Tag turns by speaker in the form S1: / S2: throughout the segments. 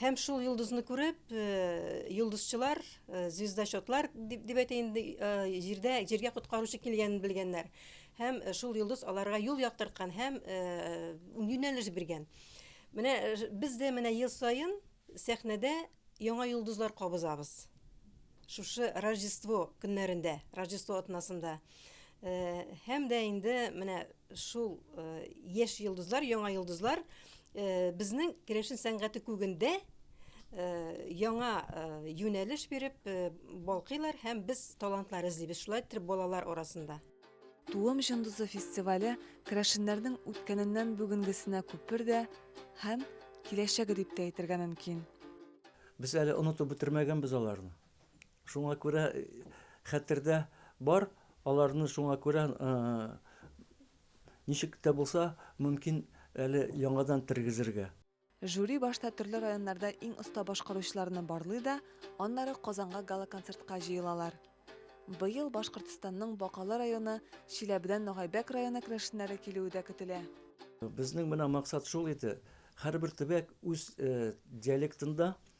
S1: Һәм шул йолдызны күреп, йолдызчылар, звездочетлар дип, дип әйтә инде, җирдә, җиргә коткаручы килгәнен белгәннәр. Һәм шул йолдыз аларга юл яктырткан һәм юнәлеш биргән. Менә без дә менә ел саен сәхнәдә яңа йолдызлар кабызабыз. Шушы Рождество көннәрендә, Рождество атнасында. Һәм дә инде менә шул яшь йолдызлар, яңа йолдызлар безнең керәшен сәнгате күгендә яңа юнәлеш биреп балкыйлар һәм без талантлар эзлибез шулай итеп балалар арасында. Туым җондызы фестивале керәшеннәрнең үткәненнән бүгенгесенә күпер дә һәм киләчәге дип тә әйтергә мөмкин. Без әле онытып бетермәгәнбез аларны. Шуңа күрә хәтердә бар, аларны шуңа күрә ничек тә булса, мөмкин, әле яңадан тергезергә. Жюри башта төрле районнарда иң оста башкаручыларны барлый да, аннары Казанга гала-концертка җыелалар. Быел Башкортстанның Бакалы районы, Чиләбедән Ногайбәк районы керәшеннәре килүе дә көтелә. Безнең менә максат шул иде, һәрбер төбәк үз диалектында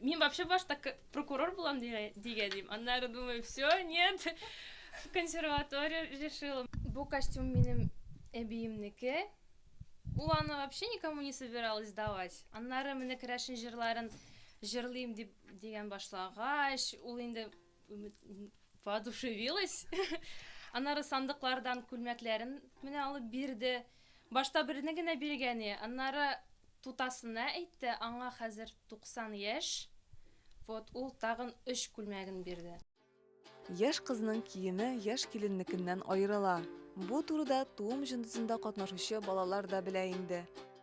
S1: Мин вообще башта прокурор булам дигән идем. Аннары думаю, все, нет. Консерватория решила. Бу костюм минем әбиемнеке. Ул аны вообще никому не собиралась давать. Аннары менә керәшен җырларын җырлыйм дип дигән башлагач, ул инде Воодушевилась. Аннары сандыклардан күлмәкләрен менә алып бирде. Башта берне генә биргәне, аннары тутасына әйтте, аңа хәзер 90 яшь. Вот ул тагын өч күлмәген бирде. Яшь кызның киеме яшь киленнекеннән аерыла. Бу турыда туым җындысында катнашучы балалар да белә инде.